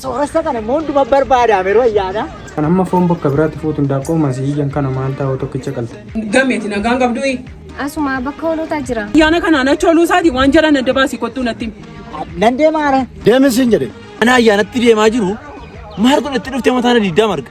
Sooressa kana immoo hunduma barbaadaam yeroo ayyaana. Kan amma foon bakka biraatti fuutu hindaaqqoo masii iyyan kana maal taa'u tokkicha qalte. Gameeti nagaan qabdui. Asuma bakka hoolotaa jira. Ayyaana kanaan achi oluu isaati waan jalaan adda baasii kottuu natti himi. Nan deemaara. Deemin siin jedhe. Ana ayyaanatti deemaa jiru maal kun itti dhuftee mataan adiddaa marga.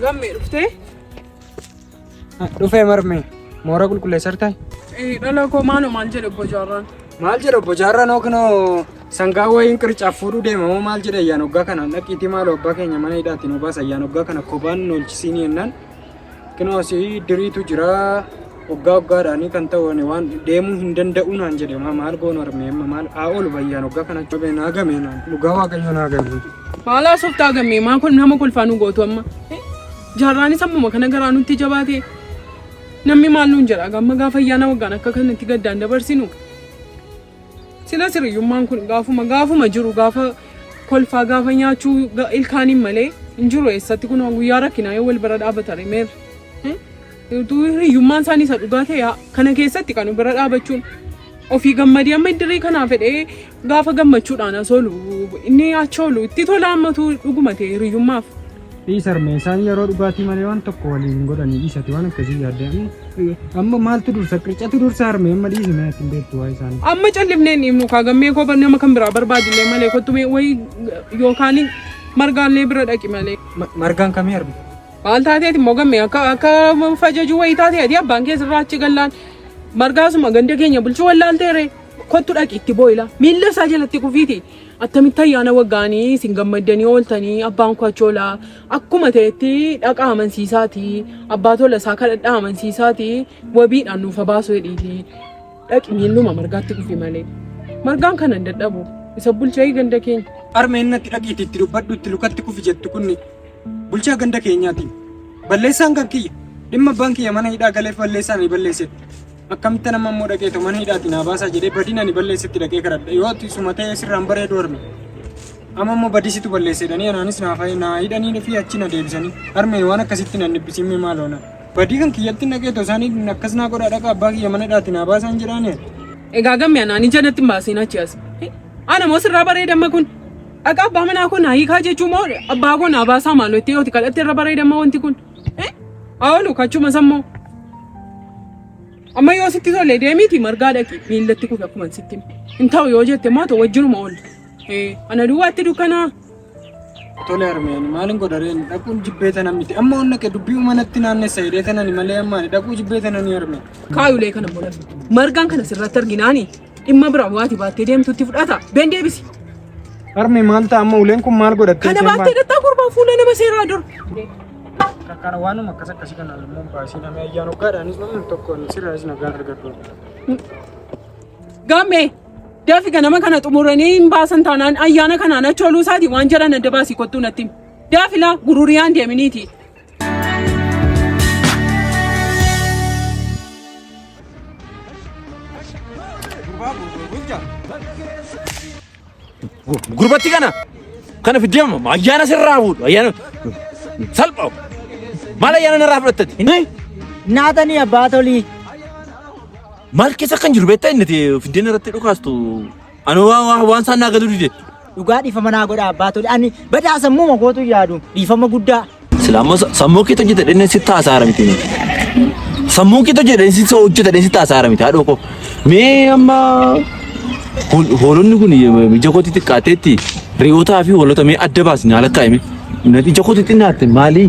Gammee dhuftee? Dhufee marmee moora qulqulleessar ta'e. Dhala koo maaloo maal jedhe obbo Jaarraan? Maal jedha obbo Jaarraan hookinoo sangaa wayiin qircaaf fuudhuu deema moo maal jedha ayyaan hoggaa kana dhaqiitii maaloo abbaa keenya mana hidhaatti nu baasa ayyaan hoggaa kana kophaan nu olchisiinii jennaan Kinoo asii diriitu jira waggaa waggaadhaanii kan ta'u ani waan deemuu hin danda'u naan jedhe maa maal goonu armee amma maal haa oolu bayyaan waggaa kana jabee naa gamee naan dhugaa waaqayyo naa gamee. Maal haasoftaa gammee maa kun nama kolfaa nu gootu amma Eh, jaarraanis ammuma kana garaa nutti jabaate namni maal nuun jedha gamma gaafa ayyaana waggaan akka kanatti gaddaan dabarsinu Silas hiriyummaan kun gaafuma gaafuma jiru gaafa kolfaa gaafa nyaachuu ga- ilkaaniin malee hin jiru eessatti kun guyyaa rakkinaa yoo wal bira dhaabata remeer. Utuu hiriyummaan isaanii isa dhugaa ta'e haa- kana keessatti kan bira dhaabachuun ofii gammadee amma iddirii kanaa fedhee gaafa gammachuudhaan as oolu inni achi oolu itti tola ammatu dhuguma ta'e hiriyummaaf. Dhiis harmee isaan yeroo dhugaatii malee waan tokko waliin hin godhanii dhiis ati waan akkasii yaadde amma- amma maaltu dursa qircatu dursa harmee amma dhiisi mee ati hin beektu waa isaanii. Amma callifnee hin dhiifnu kaa gammee koo bar- nama kan biraa barbaadillee malee kottu mee wayii yookaan margaallee bira dhaqi malee. Ma- Margaan kamii harmee? Maal taateeti immoo gammee akka akka fajajuu wayii taatee ati abbaan kee sirraa achi gallaan margaasuma ganda keenya bulchuu wallaalteere kottu dhaqi itti booyila miilla isaa jalatti kufiiti Attamitti ayyaana waggaanii isin gammaddanii ooltanii abbaan koo achi oolaa akkuma ta'etti dhaqaa amansiisaati abbaa tola isaa kadhadhaa amansiisaati wabiidhaan nuuf habaasu jedhiiti dhaqi miilluma margaatti dhufi malee margaan kana hin dadhabu isa bulchaa ganda keenya. Arma innatti dhaqiiti itti dubbadhu itti lukatti kufi jettu kunni bulchaa ganda keenyaati. Balleessaan kan kiyya dhimma abbaan kiyya mana hidhaa galeef balleessaan ni balleessetti. Akkamittan amma immoo dhaqee too mana hidhaati naa baasaa jedhee badiin ani balleessetti dhaqee kadhadha. Yoo ati suma ta'ee sirraan bareedu harme. Amma immoo badii situ balleesse jedhanii anaanis naa fa'i naa hidhanii fi achi na deebisanii. Harmeen waan akkasitti nan dhibbisiimme maaloo na. Badii kan kiyyatti dhaqee too isaanii akkas naa godhaa dhaqa abbaa kiyya mana hidhaati naa baasaan jedhaanii. Egaa gamme anaan ija natti hin baasiin achi as. Ana moo sirraa bareeda amma kun. Dhaqa abbaa manaa koo naa hiikaa jechuu moo abbaa koo naa baasaa maaloo itti yoo itti kadhatte irra bareeda amma wanti kun. Oolu kachuma sammoo. Amma yoo sitti tole deemiiti margaa dhaqi miillatti kufe akkuma sitti hime. Hin ta'u yoo jette immoo ta'u wajjinuma oolu. Eh, Ana duwwaatti dukkanaa. Tole harmeen maalin godhareen dhaquun jibbee tana miti amma onna kee dubbii umanatti naannessa hidhee tanani malee ammaani dhaquu jibbee tanani harmeen. Kaayulee kana booda margaan kana sirratti arginaani. Dhimma bira waati baattee deemtutti fudhata. Been deebisi. Harmee maal ta'a amma uleen kun maal godhattee? Kana baattee dhattaa gurbaa fuula nama seeraa dur. Kakkara waanuma akkas akkasii kana immoo baasii namni ayyaan hoggaadhaanis namni tokko sirraas nagaan argadhu. Gammee dafi ganama kana xumuranii hin baasan taanaan ayyaana kanaan achooluu isaati waan jedhan adda baasii kottuu natti. Daafilaa gururiyaan deeminiiti. Gurbatti kana kana fiddama ayyaana sirraa fuudhu ayyaana salpha maal ayyaana narraa fudhattati Naatanii abbaa tolii. maal keessa kan jiru beektaa inni fiddeen irratti dhukaastu Ani waan waan waan isaan naa galuu dide. Dhugaa dhiifama naa godha abbaa tole. Ani badaa sammuu makootu yaadu dhiifama guddaa. Sila amma sa- sammuu keetu hojjeta dhenne sitti haasaara miti. Sammuu keetu hojjeta dhenne sitti hojjeta dhenne sitti haasaara miti haadhoo koo. Mee amma hol- hoolonni kun ija kootti xiqqaateetti re'ootaa fi hoolota mee adda baasni haala kaa'ime. Ija kootti xinnaatte maalii?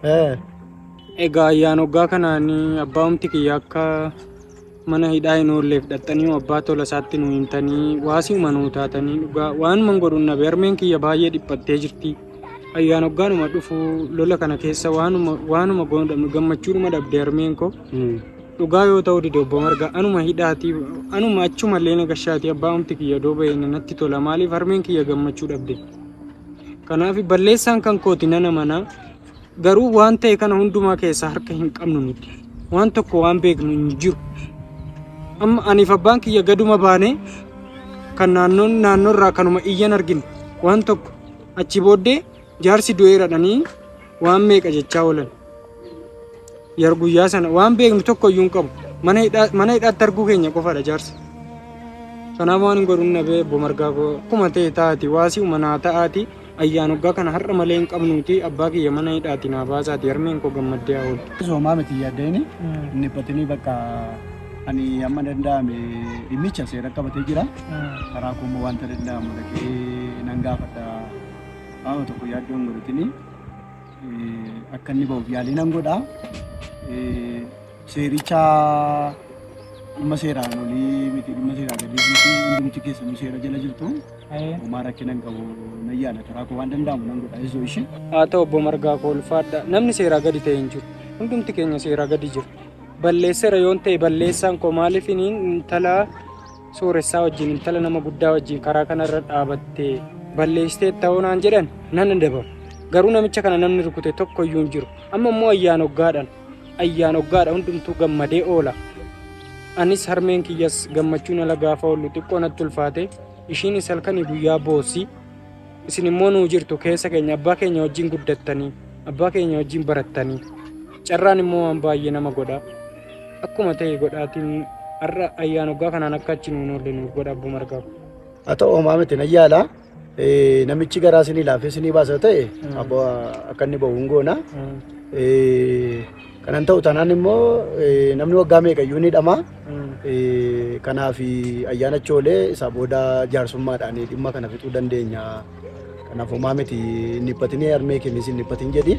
Eh. Egaa ayyaan hoggaa kanaan abbaa'umti kiyya akka mana hidhaa hin oolleef dhaxxanii abbaa tola isaatti nu himtanii waasiuma nuu taatanii dhugaa waanuman godhuun nabe harmeen kiyya baay'ee dhiphattee jirti. Ayyaan hoggaanuma dhufu lola kana keessa waanuma waanuma goonudha gammachuudhuma dhabde harmeen koo. Mm. Dhugaa yoo ta'u dide obbo Marga anuma hidhaati anuma achuma illee na gashaati abbaa'umti kiyya doo ba'e natti tola maaliif harmeen kiyya gammachuu dhabde. Kanaaf balleessaan kan kooti nana manaa Garuu waan ta'e kana hundumaa keessaa harka hin qabnu nuti. Waan tokko waan beeknu hin jiru. Amma aniif abbaan kiyya gaduma baanee kan naannoon naannoorraa kanuma iyyan argine waan tokko achi booddee jaarsi du'eeradhanii waan meeqa jechaa oolan. Yer guyyaa sana waan beeknu tokko iyyuu hin qabu. Mana hidhaa- Mana hidhaatti arguu keenya qofaadha jaarsa. Kanaaf waan hin godhu nabee obbo Margaa koo akkuma ta'e taati waasii umanaa ta'aati. Ayyaan hoggaa kana har'a malee hin qabnuutii abbaa kiyya mana hidhaatii naa baasaatii harmeen koo gammaddee haa ooltu. Atis homaa miti hin yaadda'ini hin dhiphatinii bakka ani amma danda'ame dhimmicha seera qabatee jira karaa koo immoo wanta danda'amu dhaqee nan gaafadha qaama tokko yaaddoo hin godhatinii akka inni ba'uuf yaalii nan godha. Seericha dhimma seeraan olii miti dhimma seeraa gadii miti hundumti keessanuu seera jala jirtu homaa rakkina hin qabu nan yaala karaa koo waan danda'amu nan godha isoo ishee. Haa ta'u obbo Margaa koo ulfaadha namni seeraa gadi ta'e hin jiru hundumti keenya seeraa gadi jiru balleessera yoon ta'e balleessaan koo maaliif inni intala sooressaa wajjin intala nama guddaa wajjin karaa kanarra dhaabattee balleessitee ta'uu naan jedhan nan adabama garuu namicha kana namni rukute tokko iyyuu hin jiru amma immoo ayyaan hoggaadhaan Ayyaan oggaadha hundumtuu gammadee oola. Anis harmeen kiyyas gammachuun ala gaafa oollu xiqqoo natti ulfaate. Ishiinis halkanii guyyaa boossi. Isin immoo nuu jirtu keessa keenya abbaa keenya wajjin guddattanii abbaa keenya wajjin barattanii. Carraan immoo waan baay'ee nama godha. Akkuma ta'e godhaatiin har'a ayyaan oggaa kanaan akka achi nuun oolle nuuf godha abbuma argaaf. Haa ta'u homaa miti nan yaala. Namichi garaa sinii laafee sinii baasa ta'e abbo akka inni bahu hin goona. Kanan ta'u taanaan immoo namni waggaa meeqayyuu ni dhama. Kanaaf ayyaana choolee isaa booda jaarsummaadhaan dhimma kana fixuu dandeenya. Kanaaf homaa miti hin dhiphatinii harmee keenyis hin dhiphatin jedhi.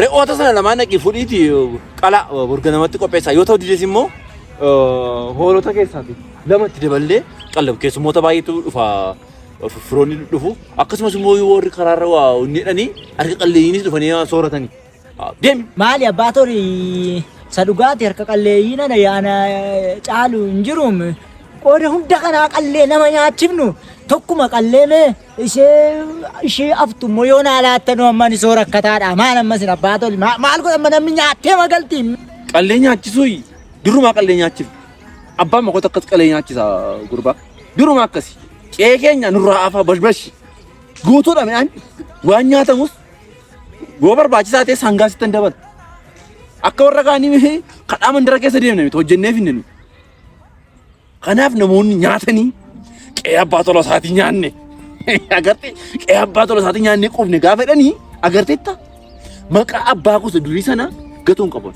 Re'oota sana lamaan dhaqii fudhiiti qala burga namatti qopheessaa yoo ta'u dides immoo hoolota keessaati lamatti daballee qallab keessummoota baay'eetu dhufa firoonni dhufu akkasumas immoo warri karaarra waa hojjetanii harka qalleeyyiinis dhufanii sooratanii deemi. Maali abbaa tori sa dhugaati harka qalleeyyiin ana yaana caalu hin jiruum qooda hunda kanaa qallee nama nyaachifnu tokkuma qallee mee Ishee ishee aftu immoo yoo naa laattanuu amma ani soo rakkataadha. Maal amma isin abbaa toli ma- maal godha amma namni nyaattee magalti. Qallee nyaachisuu durumaa qallee nyaachif. Abbaan makoota akkas qalee nyaachisa gurbaa. Durumaa akkasi. Qe'ee keenya nurraa afaa bashbashi. Guutuudha midhaan waan nyaatamus yoo barbaachisaa ta'e sangaa sittan dabala. Akka warra kaanii kadhaa mandara keessa deemne miti hojjennee finne nuti. Kanaaf namoonni nyaatanii qe'ee abbaa tola isaatii nyaanne agarte qe'ee abbaa tola isaatii nyaanne qubne gaafa jedhanii agarteetta maqaa abbaa gosa durii sana gatuun qaban.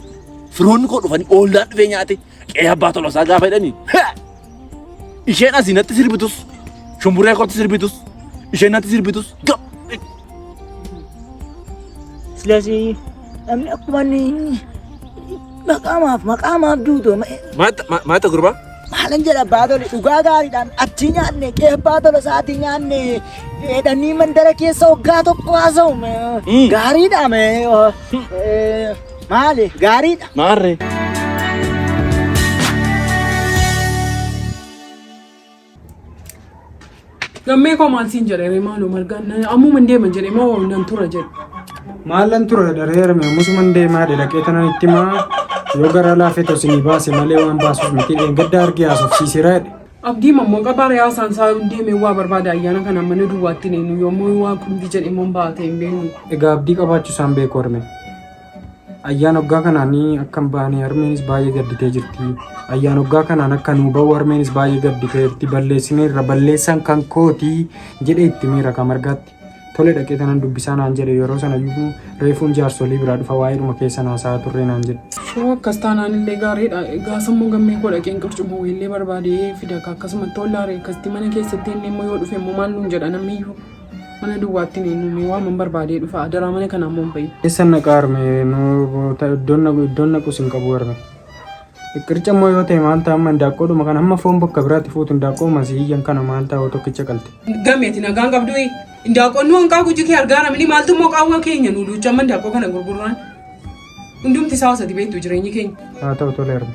Firoonni koo dhufanii oollaan dhufee nyaate qe'ee abbaa tola isaa gaafa jedhanii isheen asii natti sirbitus shumburee kootti sirbitus isheen natti sirbitus gab ስለዚህ namni akkuma inni maqaamaaf maqaamaaf duutu maata gurbaa maalan jedha baatole dhugaa gaariidhaan achi nyaanne qe'ee baatole isaatii nyaanne dheedhanii mandara keessa waggaa tokko haasa'u gaariidha maali gaariidha. Maarree. Gammee koo maal siin jedhe maaloo margaan ammuma hin deeman jedhe moo nan tura jedhe. Maallan tura dareerame ammusuman deemaa dhaqee tanan itti maa yoo garaa laafee tosinii baase malee waan baasuuf miti dheengadda argee haasofsiiseera jedhe. Abdii mammoo qabaa re'aa isaan isaa deemee waa barbaada ayyaana kana mana duwwaatti deemu yommuu waa qumti jedhe immoo baatee hin beeknu. Egaa abdii qabaachuu isaan beeku arme. Ayyaan hoggaa kanaan akka hin baane harmeenis baay'ee gadditee jirti. Ayyaan hoggaa kanaan akka nuu ba'u harmeenis baay'ee gadditee jirti. Balleessineerra balleessaan kan kooti jedhee itti miira kan margaatti. Tole dhaqee tanan dubbisaa naan jedhe yeroo sana iyyuu reefuun jaarsolii biraa dhufa waa'eedhuma keessa naasaa turree naan jedhe. Shoo akkas taanaan illee gaariidha. Egaa sammuu gammee koo dhaqeen qurcuma weellee barbaadee fida ka akkasumatti hollaaree akkasitti mana keessatti inni immoo yoo dhufe immoo maal nuun jedha namni iyyuu. Mana duwwaattiin eenyuun waaman barbaadee dhufa adaraa mana kana ammoo hin bahin. Eessan naqaa arme iddoon naquus hin qabu arme. Qirca immoo yoo ta'e maal ta'a amma indaaqqoodhuma kana amma foon bakka biraatti fuutu indaaqqoo masiiyyan kana maal ta'a tokkicha qalte. Gameeti nagaan qabduu indaaqqoon nu hanqaa guji kee argaa namni maaltu immoo qaawwa keenya nu duucha amma indaaqqoo kana gurgurraan. Hundumti isaa osati beektu jireenyi keenya. Haa ta'u tole arme.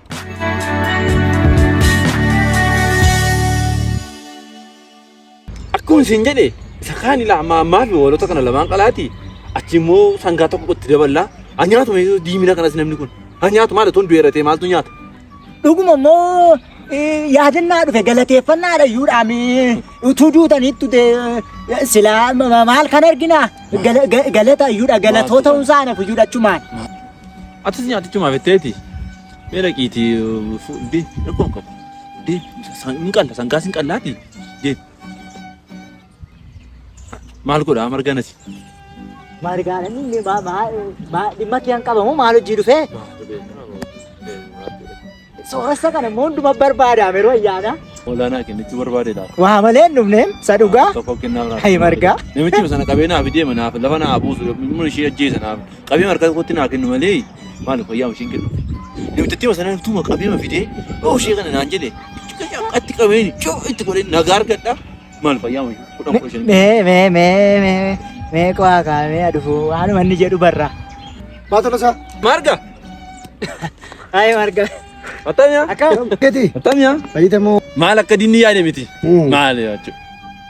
Akkuma isin jedhe isa kaan ilaa ammaa ammaa fi hoolota kana lamaan qalaati achi immoo sangaa tokko itti daballaa ha nyaatu mee diimina kanas namni kun ha nyaatu maal otoo hin du'eeratee maaltu nyaata. Dhuguma immoo eh, yaadannaa dhufe galateeffannaa dhayyuu dhaami. Utuu duutaniittu dee silaa ma- ma- maal kan argina Gala- ga- galata iyyuudha galatoo ta'uun isaa naaf iyyuudha achumaan. Atis nyaatichumaaf jetteeti. Mee dhaqiiti fuudhee rakkoon qabu. Dee hin qalla sangaas hin qallaati. Dee maal godhaa marganas. Margaadhaan inni dhimma kiyaan qabamu maal hojii dhufee? Sooressa kana immoo hunduma barbaadaam yeroo ayyaanaa. Olaanaa kennichuu barbaade laata? Waa malee hin dhufneem sa dhugaa. Tokko kennaa biraa. Hayi margaa. Namichi sana qabee naaf deema naaf lafa naa buusu immoo ishee ajjeesa naaf qabee margaa tokkotti naa kennu malee maal fayyaa isheen kennu. Namichi sana tuma qabee ma fidee yoo ishee kana naan jedhe atti qabeen coo itti godhee nagaa argadha Maal fayyaa wayii? Kudhan kudha shan. Mee mee mee mee mee qo'aa kaamee adufuu waanuma inni jedhu barra. Maa tola isaa? Marga. Ayi marga. Attamia. Akkam? Gati. Attamia. Fayyita moo? Maal akka dinni yaade miti. Maal jechuudha.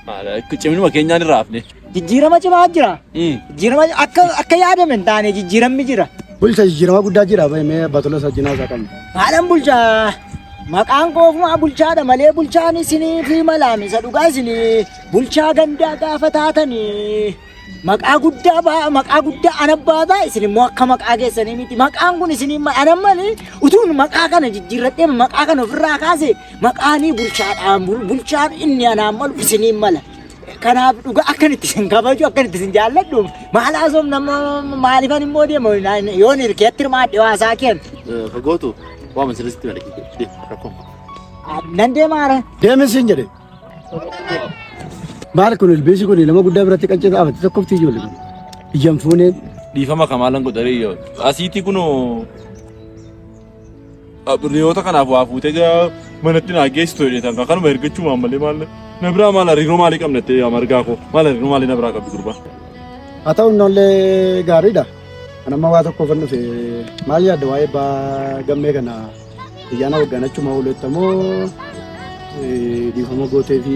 Maal akka ciminuma keenyaan irraa hafne. Jijjiirama cimaa jira. Jijjiirama akka akka yaadame hin taane jijjiiramni jira. Bulcha jijjiirama guddaa jira mee batola sajjinaa isaa qabna. Maalan bulchaa maqaan koo ofuma bulchaadha malee bulchaan isinii fi malaam isa dhugaa isinii bulchaa gandaa gaafa taatanii maqaa guddaa baa- maqaa guddaa ana baata isin immoo akka maqaa keessanii miti maqaan kun isinii ma- ana malee utuun maqaa kana jijjiirradhee maqaa kana ofirraa kaase maqaanii bulchaadhaan bul- bulchaan inni anaan malu isiniin mala. Kanaaf dhugaa akkan itti isin kabaju akkan itti isin jaalladhu maal haasofnu nama maaliifan immoo deemu yoon hirkeetti hirmaadhe waasaa keen. Fagootu waan masirratti na dhaggeeffate rakkoo. Nan deemaara. Deemin siin jedhe. Maal kun ilbiisi kun nama guddaa biratti qaccee dhaabate tokkofti ijoollee. Ijjan fuuneen. Dhiifama kamaalan godharee yoo asiitii kunoo Riyoota kanaaf waa fuutee gara manatti naa geessitu jedheetan kan kanuma ergachuu waan malee maal na biraa maal hariiroo maalii qabna jettee yaa margaa koo maal hariiroo maalii na biraa qabdi durba. Haa ta'u innollee gaariidha. Kan amma waa tokko kan dhufe maal yaadda waa'ee abbaa gammee kana ayyaana waggaanachuma oolettamoo dhiifama gootee fi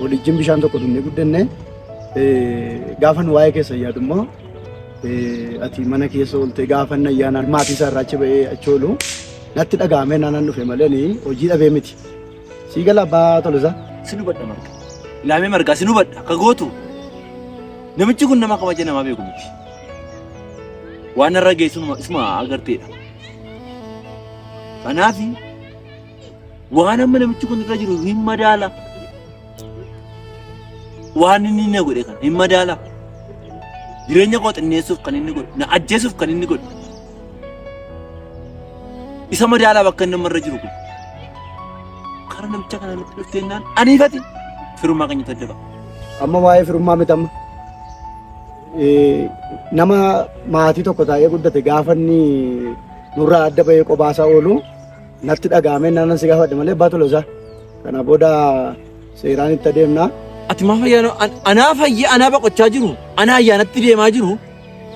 Walijjin bishaan tokko dhugnee guddanne. Gaafan waa'ee keessa yaadummoo ati mana keessa ooltee gaafan ayyaanaan maatii isaa irraa achi ba'ee achi oolu natti dhaga'amee naanaan dhufe malee ni hojii dhabee miti. Sii gala abbaa tolisaa. Sin hubadha marga. Ilaamee margaa sin hubadha akka gootu. Namichi kun nama kabaja namaa beeku miti. Waan irra geessu isuma agarteedha. Kanaafi Waan amma namichi kun irra jiru hin madaala. Waan inni na godhe kana hin madaala. Jireenya koo xinneessuuf kan inni godhe, na ajjeesuuf kan inni godhe. Isa madaalaa bakka inni amma irra jiru kun. Karaa namicha kana nutti dhufteennaan aniifati firummaa keenya tadda ba'a. Amma waa'ee firummaa miti amma. Eh, Nama maatii tokko taa'ee guddate gaafa inni nurraa adda bahee qobaasaa oolu natti dhaga'amee naannan si gaafadhe malee abbaa Toloosaa. Kana booda seeraan itti adeemna. Ati maaf ayyaana an- anaa fayya anaa baqochaa jiru anaa ayyaanatti deemaa jiru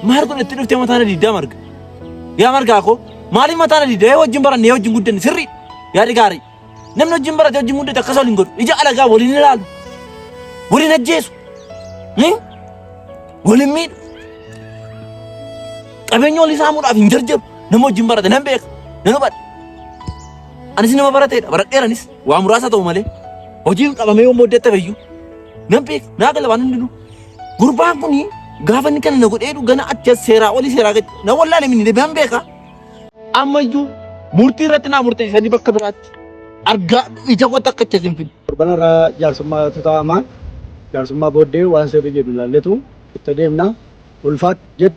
maal kun itti dhuftee mataa na diddaa marga. Yaa margaa koo maaliif mataa na diddaa yoo wajjin barannee yoo wajjin guddanne sirri yaadi gaarii. Namni wajjin barate wajjin guddate akkas waliin godhu ija alagaa waliin ilaalu waliin ajjeesu ni waliin miidhu qabeenya olii saamuudhaaf hin jarjaru. Nama wajjin barate nan beeka. Nan hubadha. Anis nama barateedha. Baradheeranis waa muraasa ta'u malee. Hojiin qabamee yommuu hojjette fayyuu. Nan beeka. Naa gala waan hundinuu. Gurbaan kuni gaafa inni kana na godhee jedhu gana achi as seeraa olii seeraa gadi. Na wallaale minni deebi'an beeka. Ammayyuu murtii irratti naa murteessanii bakka biraatti argaa ija koo takka achi as hin fidne. Torban irraa jaarsummaa irratti taa'amaa jaarsummaa booddee waan sirrii jedhu ilaalletu itti deemna. Ulfaat jedhu